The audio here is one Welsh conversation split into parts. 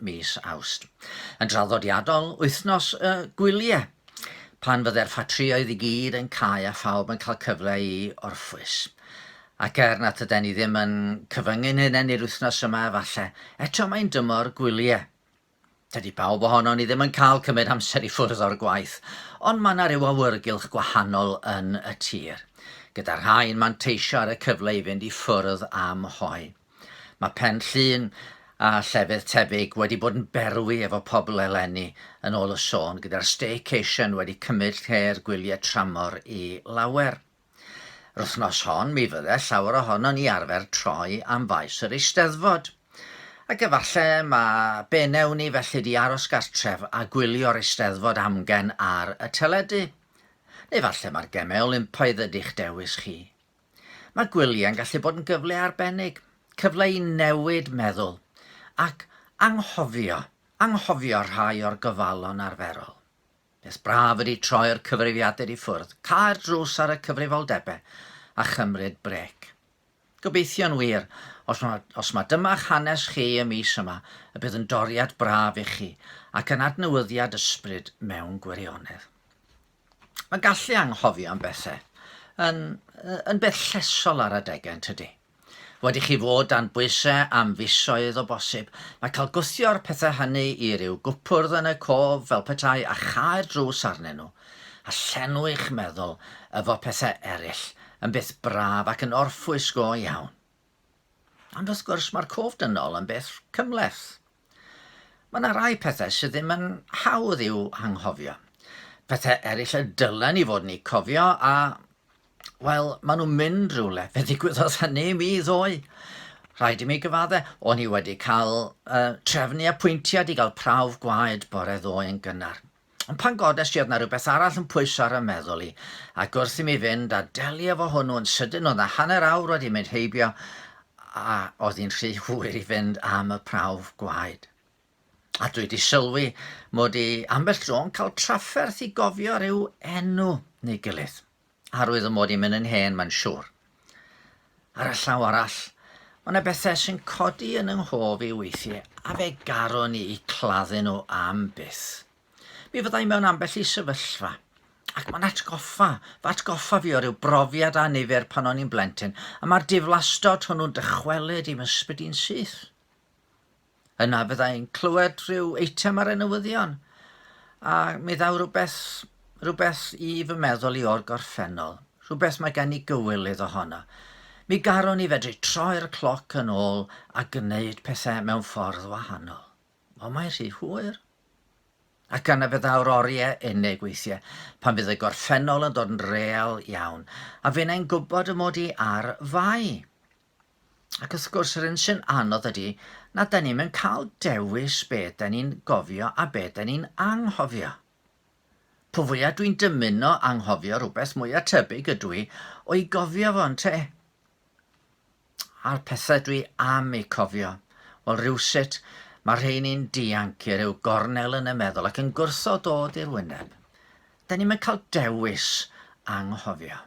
mis Awst. Yn draddodiadol, wythnos y gwyliau, pan fydde'r ffatrïoedd i gyd yn cau a phawb yn cael cyfle i orffwys. Ac er nad yden ni ddim yn cyfyngu'n hunain i'r wythnos yma efallai, eto mae'n dymor gwyliau. Dydy pawb ohonon ni ddim yn cael cymryd amser i ffwrdd o'r gwaith, ond mae yna rhyw awyrgylch gwahanol yn y tir, gyda rhai'n manteisio ar y cyfle i fynd i ffwrdd am hoe. Mae Pen Llŷn a llefydd tebyg wedi bod yn berwi efo pobl eleni, yn ôl y sôn, gyda'r staycation wedi cymryd lle'r gwyliau tramor i lawer. Yr wythnos hon mi fydde llawer ohonon ni arfer troi am faes yr Eisteddfod. Ac efalle mae be newn ni felly di aros gartref a gwylio'r Eisteddfod amgen ar y teledu. Neu falle mae'r gemau Olympaidd ydi'ch dewis chi. Mae gwyliau yn gallu bod yn gyfle arbennig, cyfle i newid meddwl ac anghofio, anghofio rhai o'r gofalon arferol. Beth braf ydy troi'r cyfrifiadur i ffwrdd, cau'r drws ar y cyfrifoldebau a chymryd brec. Gobeithio'n wir, os mae, os mae dyma'ch hanes chi y mis yma, y bydd yn doriad braf i chi ac yn adnewyddiad ysbryd mewn gwirionedd. Mae gallu anghofio am bethau yn, yn beth llesol ar adegau yn tydi? Fod i chi fod dan bwysau am fisoedd o bosib, mae cael gwthio'r pethau hynny i ryw gwpwrdd yn y cof fel petai a chau'r drws arnyn nhw, a llenwi eich meddwl efo pethau eraill, yn beth braf ac yn orffwys go iawn. Ond wrth gwrs, mae'r cof dynol yn beth cymhleth. Mae 'na rai pethau sydd ddim yn hawdd i'w hanghofio. Pethau eraill y dylen ni fod ni cofio a, wel, maen nhw'n mynd rhywle. Fe ddigwyddodd hynny i mi ddoe. Rhaid i mi gyfadde, o'n i wedi cael uh, trefnu apwyntiad i gael prawf gwaed bore ddoe yn gynnar. Ond pan godes i oedd na rhywbeth arall yn pwyso ar y meddwl i, ac wrth i mi fynd a delio fo hwnnw yn sydyn oedd na hanner awr wedi mynd heibio a oedd hi'n rhy hwyr i fynd am y prawf gwaed. A dwi wedi sylwi mod i ambell tro'n cael trafferth i gofio rhyw enw neu gilydd. Arwydd o mod i'n mynd yn hen, mae'n siwr. Ar y llaw arall, mae yna bethau sy'n codi yn yng nghof i weithiau a fe garon i i claddu nhw am byth. Mi fyddai mewn ambell i sefyllfa, ac mae'n atgoffa, fy atgoffa fi o ryw brofiad a nifer pan o'n i'n blentyn, a mae'r diflastod hwnnw'n dychwelyd i'm ysbryd i'n syth. Yna fydda i'n clywed rhyw eitem ar y newyddion, a mi ddaw rhywbeth, rhywbeth i fy meddwl i o'r gorffennol, rhywbeth mae gen i gywyl iddo honno. Mi garwn i fedru troi'r cloc yn ôl a gwneud pethau mewn ffordd wahanol. Ond mae rhy hwyr. Ac yna fe ddaw'r oriau unig weithiau, pan fydd y gorffennol yn dod yn real iawn, a fi'n ein gwybod y mod i ar fai. Ac wrth gwrs yr un sy'n anodd ydy na da ni'n mynd cael dewis be da ni'n gofio a be da ni'n anghofio. Po fwyaf dwi'n dymuno anghofio rhywbeth mwyaf tebyg ydw i o'i gofio fo yn te. A'r pethau dwi am ei cofio, wel rhywsut mae rheini'n dianc i ryw gornel yn y meddwl ac yn gwrtho dod i'r wyneb. Da ni'n mynd cael dewis anghofio.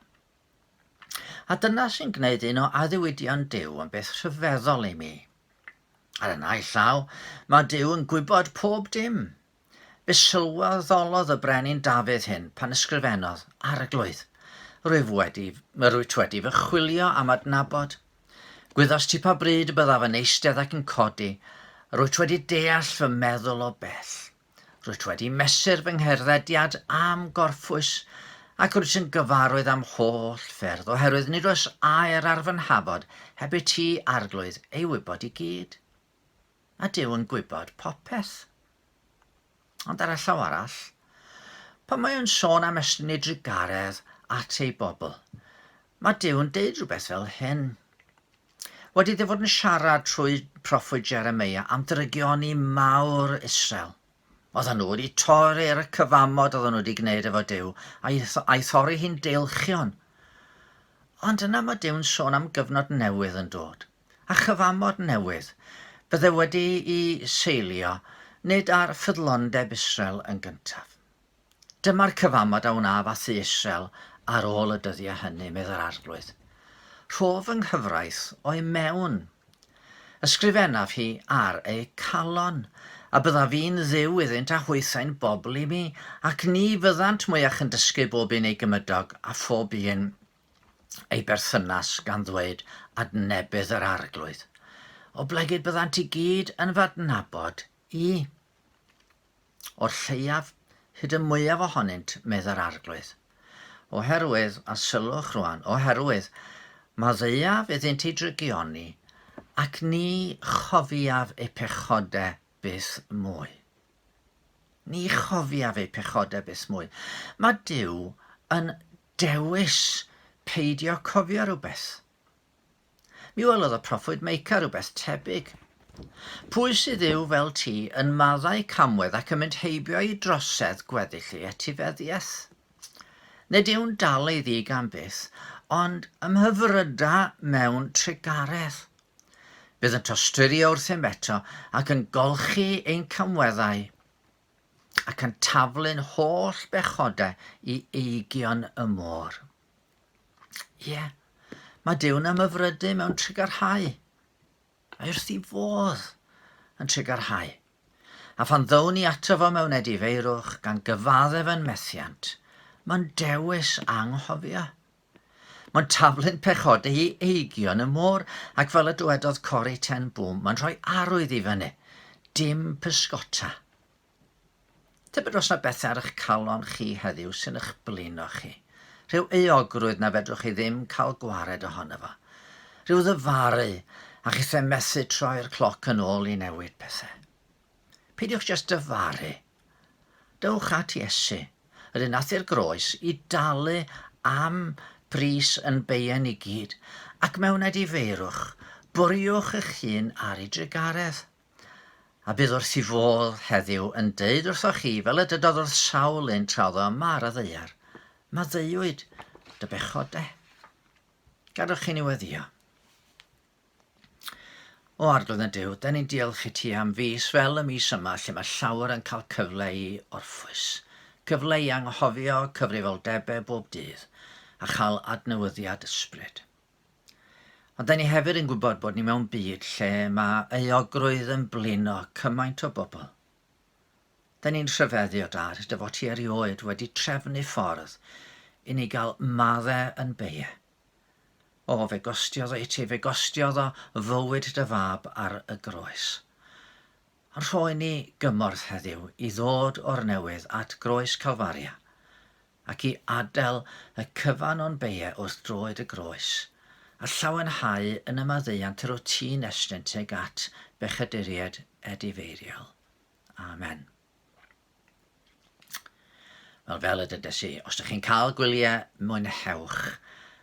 A dyna sy'n gwneud un o addewidion Duw yn beth rhyfeddol i mi. Ar y naill llaw, mae Duw yn gwybod pob dim. Be sylweddolodd y brenin Dafydd hyn pan ysgrifennodd, Arglwydd, rwyf wedi, rwyt wedi fy chwilio am adnabod. Gwyddost ti pa bryd y byddaf yn eistedd ac yn codi, rwyt wedi deall fy meddwl o bell. Rwyt wedi mesur fy ngherddediad am gorffwys ac rwyt yn gyfarwydd am holl ffyrdd oherwydd nid oes air ar fy nhafod heb i ti, Arglwydd, ei wybod i gyd. A Duw yn gwybod popeth. Ond ar y llaw arall, pan mae o'n sôn am estyn ei drugaredd at ei bobl, mae Duw'n deud rhywbeth fel hyn. Wedi dy fod yn siarad trwy proffwyd Jeremia am drygioni mawr Israel, oedden nhw wedi torri'r cyfamod oedden nhw wedi gwneud efo Dyw, a'i, a'i thorri hi'n deilchion. Ond yna mae Dyw'n sôn am gyfnod newydd yn dod, a chyfamod newydd. Bydde wedi i seilio nid ar ffyddlondeb Israel yn gyntaf. Dyma'r cyfamod a wnaf â thu isel ar ôl y dyddiau hynny, medd yr Arglwydd. Rho fy nghyfraith o'i mewn. Ysgrifennaf hi ar eu calon, a byddaf i'n Dduw iddynt a hwythau'n bobl i mi, ac ni fyddant mwyach yn dysgu bob un ei gymydog a phob un ei berthynas gan ddweud, Adnebydd yr Arglwydd. Oblegid byddant i gyd yn f'adnabod i. o'r lleiaf, hyd y mwyaf ohonynt, meddai'r Arglwydd. Oherwydd, a sylwch rwan, oherwydd, maddeuaf iddynt eu drygioni, ac ni chofiaf eu pechodau byth mwy. Ni chofiaf eu pechodau byth mwy. Mae Duw yn dewis peidio cofio rhywbeth. Mi welodd y proffwyd Meica rywbeth tebyg. Pwy sydd yw fel ti yn maddau camwedd ac yn mynd heibio i drosedd gweddill ei etifeddiaeth? Nid yw'n dal ei ddig am byth, ond ymhyfryda mewn trugaredd. Bydd yn tosturio wrthym eto ac yn golchi ein camweddau ac yn taflu'n holl bechodau i eigion y môr. Ie, yeah. mae Duw'n ymyfrydu mewn trigarhau. Mae wrth i fodd yn trigarhau. A phan ddown ni ato fo mewn edifeirwch gan gyfaddef yn methiant, mae'n dewis anghofio. Mae'n taflu'n pechod ei eigion y môr, ac fel y dywedodd Cori Ten Bŵm, mae'n rhoi arwydd i fyny. Dim pysgota. Tybed os na bethau ar eich calon chi heddiw sy'n eich blino chi. Rhyw euogrwydd na fedrwch chi ddim cael gwared ohono fo. Rhyw ddyfaru, a chithau methu troi'r cloc yn ôl i newid pethau. Peidiwch jyst dyfaru. Dewch at Iesu, yr un ath i'r groes i dalu am bris yn beien i gyd, ac mewn edifeirwch, bwriwch eich hun ar ei drugaredd. a bydd wrth i fodd heddiw yn deud wrthoch chi, fel y dydodd wrth sawl un tra oedd o yma ar y ddeiar, Maddeuwyd dy bechod de. Gadwch chi ni weddio. O arglwydd yn Dyw, da ni'n diolch i ti am fus fel y mis yma lle mae llawer yn cael cyfle i orffwys, cyfle i anghofio cyfrifoldebau bob dydd a chael adnewyddiad ysbryd. Ond da ni hefyd yn gwybod bod ni mewn byd lle mae euogrwydd yn blino cymaint o bobl. Da ni'n rhyfeddio dad hyd y fod hi erioed wedi trefnu ffordd i ni gael maddau yn beie. O, fe gostiodd o i ti, fe gostiodd o fywyd dy fab ar y groes. Ond rhoi ni gymorth heddiw i ddod o'r newydd at groes Calfaria, ac i adael y cyfan o'n beie wrth droed y groes, a llawenhau yn y maddeuant yr wyt ti'n estyn tuag at bechaduriaid edifeiriol. Amen. Wel, fel y dydes i, os ydych chi'n cael gwyliau, mwynhewch,